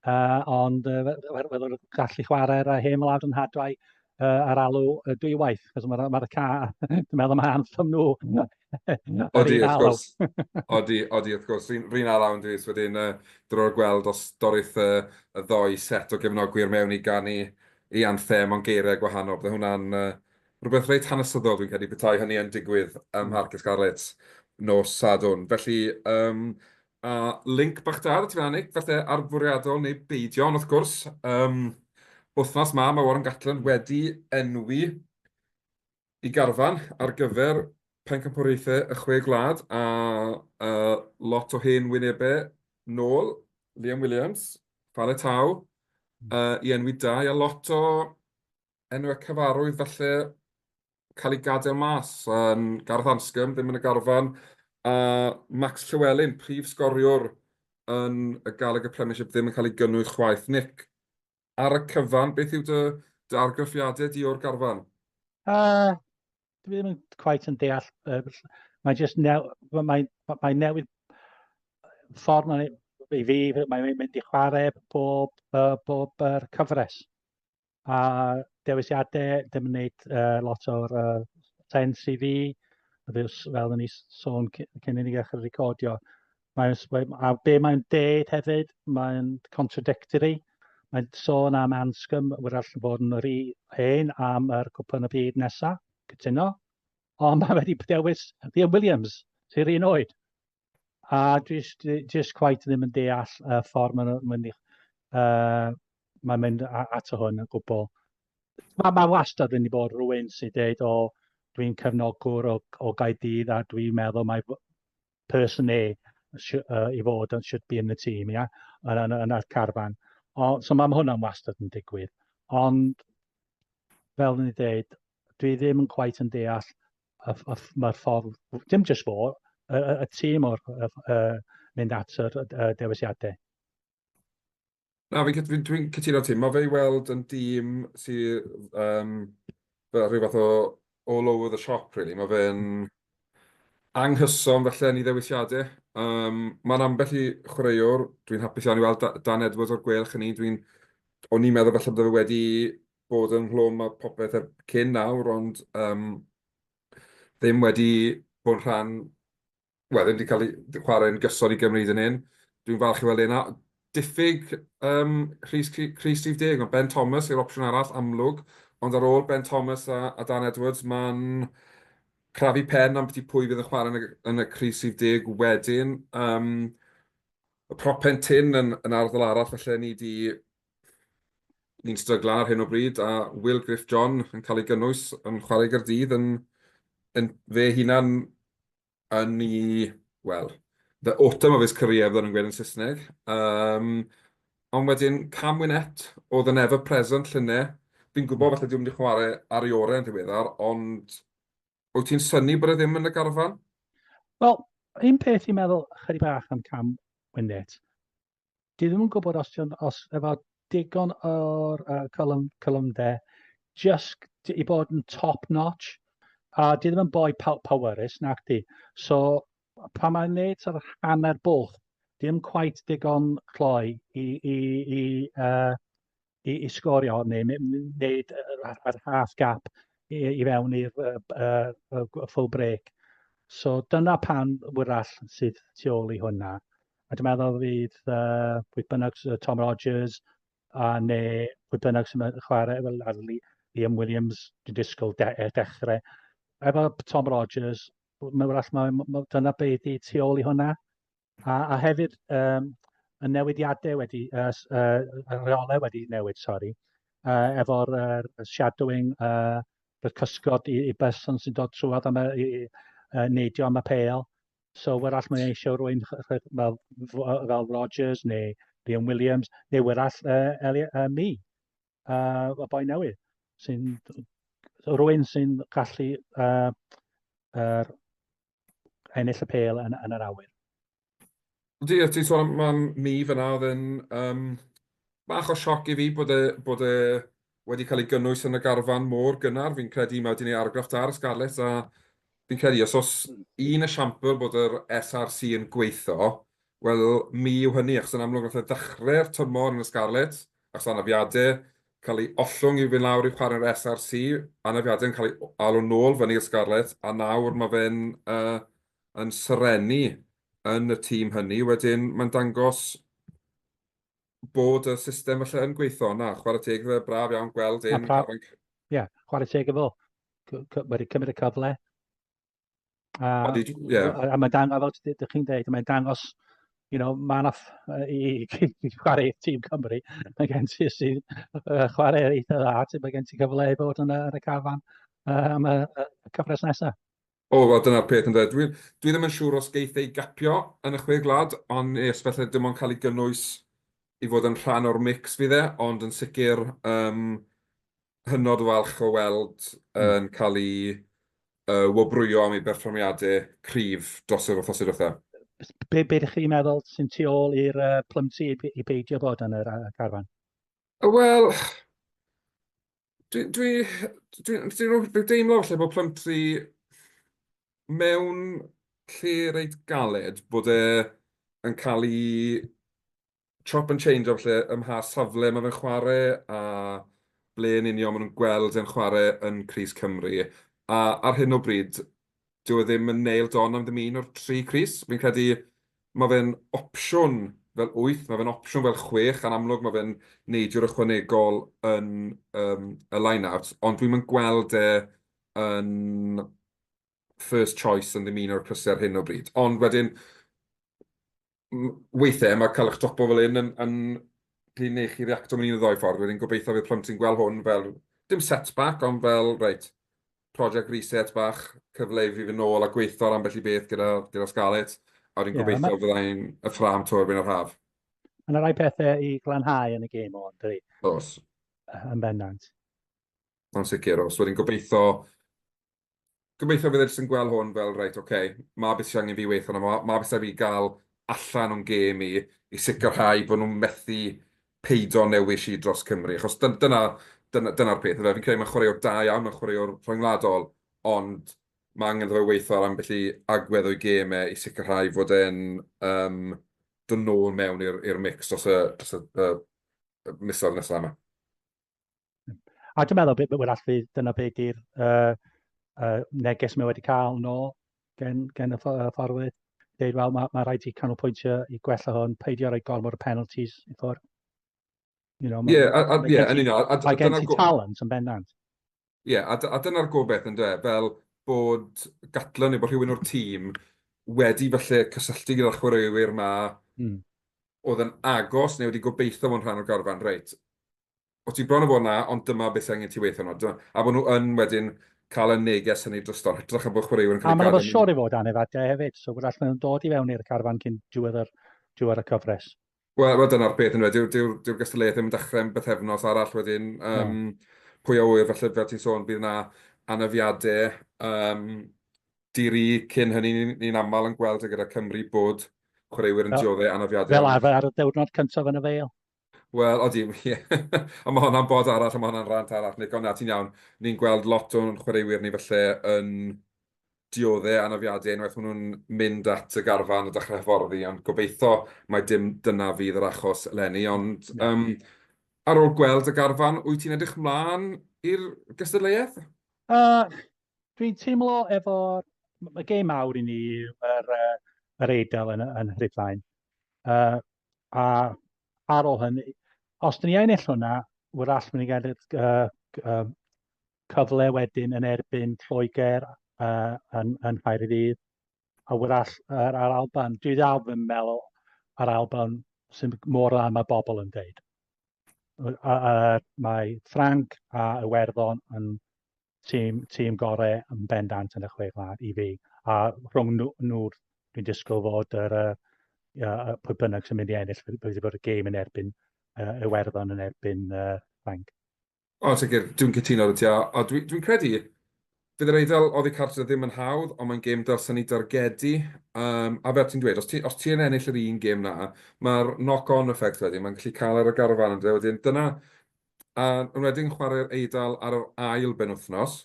uh, ond uh, wedyn gallu chwarae'r uh, hen wlad yn hadwau uh, ar alw uh, dwywaith, cos mae'r ma ca, dwi'n meddwl mae anthem nhw. Odi, wrth gwrs. Odi, odi, wrth gwrs. Rhyn ar awn dwi, wedyn uh, drwy'r gweld os dorith uh, y ddoi set o gefnogwyr mewn i ganu ei anthem mewn geiriau gwahanol. Byddai hwnna'n rhywbeth reit hanesyddol dwi'n credu petai hynny yn digwydd ym Mharc y Scarlets nos Sadwrn. Felly, um, a link bach da, ti fan Nick, falle ar fwriadol neu beidio, ond wrth gwrs, um, wythnos ma, mae Warren Gatland wedi enwi y garfan ar gyfer Pencampwriaethau y Chwe Gwlad a lot o hen wynebau nôl, Liam Williams, Fale Tau, i enwi dau, a lot o enwau cyfarwydd falle cael eu gadael mas, Gareth Anscombe ddim yn y garfan, a Max Llewelyn, prif sgoriwr yn y Gallagher Premiership ddim yn cael ei gynnwys chwaith. Nick, Ar y cyfan, beth yw dy, dy argraffiadau di o'r garfan? Uh, dwi ddim yn quite yn deall. Uh, mae jyst new, mae, mae newid ffordd mae, i fi, mae'n mynd i chwarae bob, uh, bob uh, cyfres. A dewisiadau, dim yn gwneud uh, lot o'r uh, sens i fi, fel ni sôn cyn i ni ddechrau recordio. Mae'n, a be mae'n deud hefyd, mae'n contradictory. Mae'n sôn am Anscom, wrach yn bod yn yr hen am yr cwpan y byd nesaf, cytuno. Ond mae wedi dewis Liam Williams, sy'r un oed. A just, just quite ddim yn deall y ffordd mae'n mynd, uh, mae'n mynd ato hwn yn gwbl. Mae, mae wastad wedi bod rhywun sy'n dweud, o, dwi'n cefnogwr o, o Gaedydd a dwi'n meddwl mae person A i fod yn should be in the team, ia, yn, yn, yn y carfan. O, so mae hwnna'n wastad yn digwydd. Ond, fel ni dweud, dwi ddim yn quite yn deall y, y, mae'r ffordd, dim jyst fo, y, y, y tîm o'r y, y, mynd at y, y dewisiadau. Na, fi'n cytu- dwi'n cytuno â ti. Mae fe i weld yn dîm sy yym fel rhyw fath o all over the shop rili. Mae fe'n anghyson falle yn ei ddewisiadau. Yym, mae'n ambell i chwaraewr, dwi'n hapus iawn i weld Da- Dan Edwards o'r gwelch yn un. Dwi'n... O'n i'n meddwl falle bod e wedi bod ynghlwm â popeth er- cyn nawr ond yym ddim wedi bod yn rhan wel, ddim wedi cael ei chwarae'n gyson i Gymru hyd yn hyn. Dwi'n falch i weld e'n diffyg um, Rhys, Rhys Steve Deg, ond Ben Thomas yw'r opsiwn arall amlwg, ond ar ôl Ben Thomas a, a Dan Edwards, mae'n crafu pen am beth pwy fydd yn chwarae yn y, yn y Rhys Steve Deg wedyn. Um, y propen tyn yn, yn arddol arall, felly ni wedi ni'n stryglan ar hyn o bryd, a Will Griff John yn cael ei gynnwys yn chwarae gyda'r dydd yn, yn fe hunan yn ei, wel, the autumn of his career, fydden nhw'n gweud yn Saesneg. Um, ond wedyn, Cam Winnet, oedd yn ever present llynne. Fi'n gwybod falle diw'n mynd i chwarae ar ei orau yn ddiweddar, ond wyt ti'n syni bod e ddim yn y garfan? Wel, un peth i'n meddwl chyri bach am Cam Winnet, Dwi ddim yn gwybod os, dion, os efo digon o'r uh, column, column dde, just i bod yn top notch, a dwi ddim yn boi pow powerus, nac di. So, pa mae'n neud sort of hanner bwlch, dim cwaith digon cloi i, i, i uh, i, i sgorio hon neu wneud yr half gap i, i fewn i'r uh, uh, uh, full break. So dyna pan wyrall sydd tu ôl i hwnna. A dwi'n meddwl fydd uh, pwy bynnag Tom Rogers a neu pwy bynnag sy'n chwarae fel ar Liam Williams, dwi'n disgwyl de e, dechrau. Efo Tom Rogers, mae'n wrach, mae, mae, dyna beth i tu ôl i hwnna. A, a hefyd, um, y newidiadau wedi, uh, uh, y rheolau wedi newid, sori, uh, efo'r uh, shadowing, uh, y cysgod i, i berson sy'n dod trwad am y, i, uh, neidio am y peil. So, wrach mae'n eisiau rwy'n fel, fel Rogers neu Liam Williams, neu wrach uh, Eli, uh, mi, uh, y boi newydd, sy'n rwy'n sy'n gallu uh, er, ennill y pêl yn, yn yr awyr. Ydy, a ti'n sôn am mi fyna, oedd yn um, bach o sioc i fi bod e, bod e wedi cael ei gynnwys yn y garfan mor gynnar. Fi'n credu mae wedi gwneud argraff da ar y Scarlets a fi'n credu os oes un esiampl bod yr SRC yn gweithio, wel mi yw hynny, achos yn amlwg nath e ddechrau'r tymor yn y Scarlets, Os anafiadau cael eu ollwng i'w fynd lawr i'w chwarel SRC, anafiadau yn cael eu alw nôl fyny i'r Scarlets, a nawr mae fe'n yn serennu yn y tîm hynny. Wedyn, mae'n dangos bod y system falle yn gweithio, na, chwarae teg iddo fe, braf iawn gweld e'n... Ie, chwarae teg iddo fo. Wedi cymryd y cyfle, A, yeah. a, a mae dangos, fel ydych chi'n dweud, mae'n dangos, you know, mae yna i, i, i chwarae tîm Cymru, mae gen ti sy'n uh, chwarae eitha dda, ti, mae gen ti gyfle i fod yn y, yn y cafan uh, am y, y cyfres nesaf. O, oh, dyna'r peth yn dweud. Dwi, dwi ddim yn siŵr os geith ei gapio yn y chwe glad, ond nes felly dim ond cael ei gynnwys i fod yn rhan o'r mix fi dde, ond yn sicr um, hynod o falch o weld yn cael ei yy wobrwyo am ei berfformiadau cryf dros yr wythnosau diwetha. Be, be ydych chi'n meddwl sy'n tu ôl i'r uh, plymsi i, i beidio bod yn yr uh, carfan? Wel, dwi'n dwi, dwi, dwi, dwi, dwi deimlo falle bod plymsi mewn lle reit galed bod e yn cael ei chop and change o falle ym mha safle mae fe'n chwarae a ble yn union maen nhw'n gweld e'n chwarae yn crys Cymru. A ar hyn o bryd, dyw e ddim yn nailed on am ddim un o'r tri crys. Fi'n credu mae fe'n opsiwn fel wyth, mae fe'n opsiwn fel chwech, a'n amlwg mae fe'n neidiwr ychwanegol yn yym y line-out, ond dwi'm yn gweld e yn first choice yn ddim un o'r crysau ar hyn o bryd. Ond wedyn, weithiau mae cael eich topo fel hyn yn, yn prin i chi reacto mewn un o ddoi ffordd. Wedyn gobeithio fydd plant sy'n gweld hwn fel, dim setback, ond fel, reit, project reset bach, cyfle i fi fy nôl a gweithio ar ambell i beth gyda, gyda Scarlett, a wedyn yeah, gobeithio yeah, fyddai'n y ffram to erbyn yr haf. Mae yna rai pethau i glanhau yn y gêm o'n dwi. Os. Yn bendant. Mae'n sicr, os wedyn gobeithio gobeithio bydd e jyst yn gweld hwn fel reit ok, ma' beth sydd angen fi weithio arno fo, ma' beth sydd angen fi gael allan o'n gêm i, i sicrhau bod nhw'n methu peido â newis i dros Cymru, achos dyna, dyna, dyna'r peth yndyfe, fi'n credu mae'n chwaraewr da iawn, mae'n chwaraewr rhyngwladol, ond mae angen iddo fe weithio ar ambell i agwedd o'i gêm e i sicrhau fod e'n um, dod nôl mewn i'r mix dros y, dros y, y, y misoedd nesaf yma. A dwi'n meddwl, bod wrach fydd dyna beth ydy'r uh, uh, neges mae wedi cael yn ôl gen, gen y fforwyr. Dweud, wel, mae, mae rhaid i canolbwyntio i gwella hwn, peidio rhoi gormod o penalties i ffwrdd. You know, yeah, a, a, yeah, yn union. Mae gen ti talent yn bendant. Ie, a a dyna'r gobaith ynde, fel bod Gatland neu bod rhywun o'r tîm wedi falle cysylltu gyda'r chwaraewyr 'ma... Mm. ...oedd yn agos neu wedi gobeitho fod yn rhan o'r garfan, reit, o ti bron a bod 'na ond dyma beth sydd angen ti weithio arno, dyma... A bod nhw yn wedyn cael y neges hynny drosto, yn hytrach na bod chwaraewyr yn cael eu gadael... A maen nhw'n siŵr i fod anedd adre hefyd, so wrach maen nhw'n dod i fewn i'r carfan cyn diwedd yr diwedd y cyfres. Wel, wel dyna'r peth yn wedi, dyw'r dyw, dyw gystadleuaeth ddim yn dechrau yn bythefnos arall wedyn. Um, no. Pwy a wyr, felly fel ti'n sôn, bydd yna anafiadau um, diri cyn hynny, ni'n ni aml yn gweld gyda Cymru bod chwaraewyr yn dioddau anafiadau. Fel arfer ar y diwrnod cyntaf yn y feil. Wel, odi, ie. a mae hwnna'n bod arall, a mae hwnna'n rant arall, Nico, na, ti'n iawn. Ni'n gweld lot o'n chwaraewyr ni felly yn diodde anafiadau unwaith maen nhw'n mynd at y garfan a dechrau hyfforddi, ond gobeitho mai dim dyna fydd yr achos eleni. Ond um, ar ôl gweld y garfan, wyt ti'n edrych mlaen i'r gystadleuaeth? Uh, dwi'n teimlo efo... Mae gêm mawr i ni yr, uh, yr Eidl yn, yn Rhufain. Uh, a ar ôl hynny, os dyn ni ennill hwnna, wrach mynd i gael uh, uh, cyfle wedyn yn erbyn Lloegr uh, yn, yn Nghaerdydd, a wrach yr ar Alban. Dwi ddal fy meddwl ar Alban sy'n mor dda mae bobl yn dweud. Mae Frank a Iwerddon yn tîm, tîm gorau yn bendant yn y chwe gwlad i fi. A rhwng nhw, nhw dwi'n disgwyl fod yr, uh, pwy bynnag sy'n mynd i ennill, bydd wedi bod y gêm yn erbyn uh, Iwerddon yn erbyn uh, Frank. O, ti'n gwybod, dwi'n cytuno dy ti, a dwi'n dwi credu, fydd yr eiddo oddi cartref ddim yn hawdd, ond mae'n gêm dylsen ni dargedu, um, a fel ti'n dweud, os ti'n ti ennill yr un gêm na, mae'r knock-on effect wedyn, mae'n gallu cael ar y garfan yn dweud, wedyn dyna, a yn wedyn chwarae'r eidl ar yr ail ben wythnos,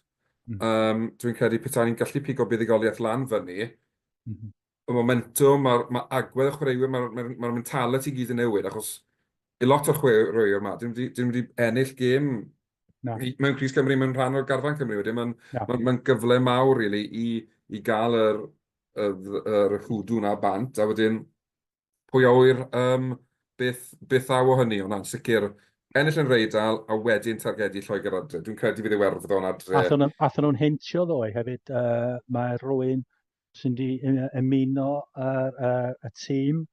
mm. um, dwi'n credu pethau ni'n gallu pigo buddigoliaeth lan fyny, mm -hmm. y momentwm, mae'r ma agwedd y chwaraewyr, mae'r ma, ma mentality gyd yn newid, achos i lot o'r chwaraewyr yma, dyn nhw wedi ennill gêm no. mewn Cris Cymru, mewn rhan o'r garfan Cymru wedyn, mae'n no. ma, ma gyfle mawr really, i, i gael yr, yr, yr hwdw na bant, a wedyn pwy awyr um, beth, beth aw o hynny, ond na'n sicr ennill yn reidal a wedyn targedu Lloegr adre. Dwi'n credu bydd Iwerddon adre. Allan nhw'n hintio ddoe hefyd, uh, mae rwy'n sy'n di ymuno y, y, y tîm,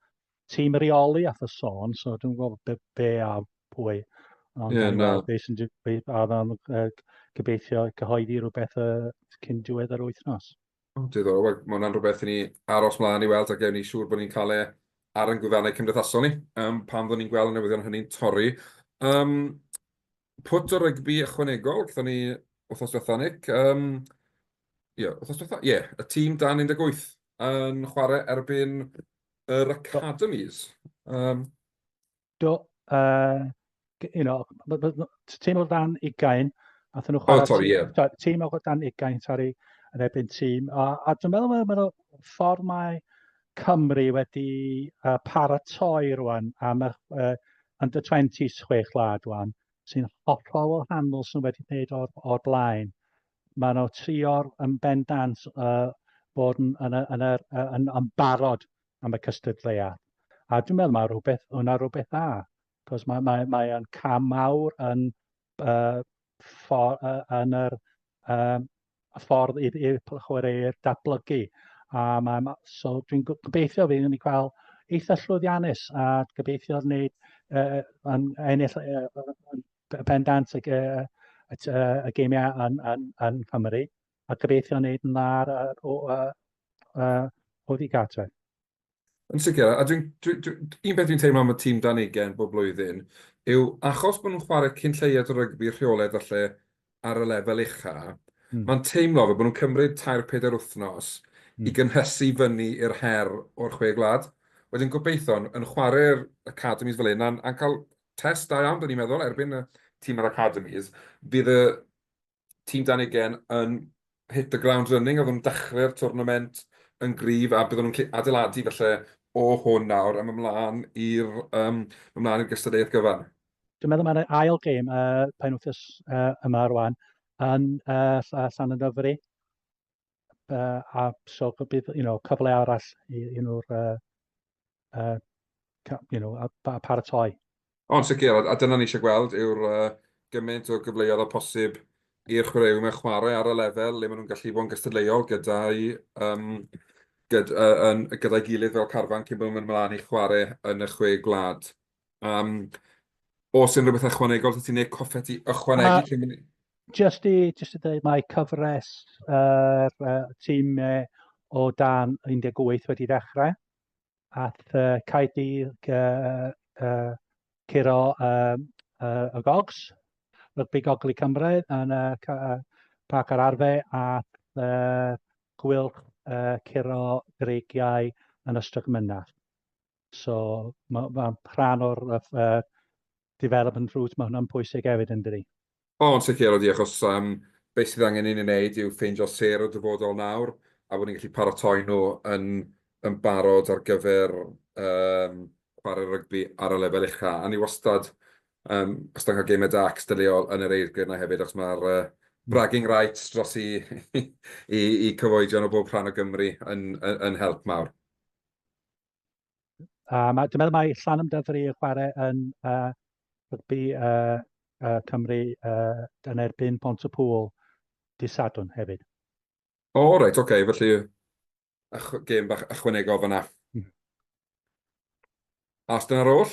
tîm reoli a y sôn, so dwi'n gwybod be, be a pwy. Ond yeah, no. be sy'n be, a dda'n uh, gobeithio cyhoeddi rhywbeth uh, cyn diwedd yr wythnos. Oh, diddorol, well, mae hwnna'n rhywbeth i ni aros mlaen i weld a gewn ni siŵr bod ni'n cael e ar yn gwyddanau cymdeithasol ni, um, pan fydden ni'n gweld y newyddion hynny'n torri. Um, pwt o rygbi ychwanegol, gyda ni wythnos diwetha, Nick. Um, yeah, wythnos diwetha? Ie, yeah, y tîm dan 18 yn chwarae erbyn yr Academies. Um, Do, uh, you know, tîm o dan ugain, nath nhw chwarae... Oh, sorry, ie. Yeah. Tîm o dan ugain, sorry, yn erbyn tîm. A, a dwi'n meddwl, mae'n ffordd mae Cymru wedi uh, paratoi rwan am y uh, under 20 chwech lad rwan sy'n hollol o handl sy'n wedi gwneud o'r, or blaen. Mae nhw trio'r yn bendant uh, bod yn, yn, yn, yn, yn, yn barod am y cystadleuaeth. A dwi'n meddwl mae rhywbeth, hwnna rhywbeth dda, cos mae'n mae, mae, mae cam mawr yn, uh, for, uh, yn yr, uh, y ffordd i'r chwaraewyr datblygu. A mae, so dwi'n gobeithio fi yn ei cael eitha llwyddiannus a gobeithio wneud uh, yn ennill uh, pendant y, uh, y, y geimiau yn, yn, yn Cymru a gobeithio wneud yn dda ar uh, uh, uh, Oeddi Gartref. Yn sicr, a dwi'n... dwi... dwi... un peth dwi'n teimlo am y tîm dan ugain bob blwyddyn yw achos bod nhw'n chwarae cyn lleied o rygbi rheolaidd falle ar y lefel ucha, mae'n teimlo fel bod nhw'n cymryd tair pedair wythnos i gynhesu fyny i'r her o'r Chwe Gwlad. Wedyn gobeithion yn chwarae'r academis fel hyn a'n cael test da iawn, dan ni'n meddwl, erbyn y tîm yr academis, fydd y tîm Dan Ugen yn hit the ground running, oedden nhw'n dechrau'r twrnament yn gryf a byddwn nhw'n gallu adeiladu felly o hwn nawr am ymlaen i'r um, ymlaen i'r gystadleuaeth gyfan. Dwi'n meddwl mae'r ail gêm uh, pen wythnos uh, yma rwan yn uh, Llan y Dyfri. uh, a so bydd you know, cyfle arall i, i nhw'r uh, uh, you know, a, a paratoi. Ond sicr, a dyna ni eisiau gweld yw'r uh, gymaint o gyfleoedd o posib i'r chwaraewyr mewn chwarae ar y lefel le maen nhw'n gallu bod yn gystadleuol gyda'i um, gyda, uh, gyda gilydd fel carfan cyn bod nhw'n mynd ymlaen i chwarae yn y chwe gwlad. Yym, os unrhyw beth ychwanegol, os ti'n neud coffet i ychwanegu cyn mynd... Just i, just i dweud, mae cyfres yr uh, uh, tîm uh, o dan 18 wedi dechrau. Ath uh, Caerdydd uh, uh, curo uh, uh, y gogs, rygbi goglu Cymru yn y uh, Parc ar Arfe, a uh, gwylch uh, curo dreigiau yn Ystrad Mynach. So mae, mae rhan o'r uh, development route, mae hwnna'n pwysig hefyd yn dydi? O, yn sicr, ydy, achos um, beth sydd angen i ni wneud yw ffeindio ser y dyfodol nawr, a bod ni'n gallu paratoi nhw yn, yn barod ar gyfer um, chwarae rygbi ar y lefel ucha. A ni wastad, um, wastad cael gemau da cystadleuol yn yr eirgrydd yna hefyd, achos mae'r uh, bragging rights dros i, i, i cyfoedion o bob rhan o Gymru yn, yn, yn help mawr. A ma'... dwi'n meddwl mai Llanwm Dyfri yn chwarae yn yy rygbi yy yy Cymru yy yn erbyn Pontypŵl dydd Sadwrn hefyd. O reit ok felly gêm bach ychwanegol fan'na. Os dyna'r oll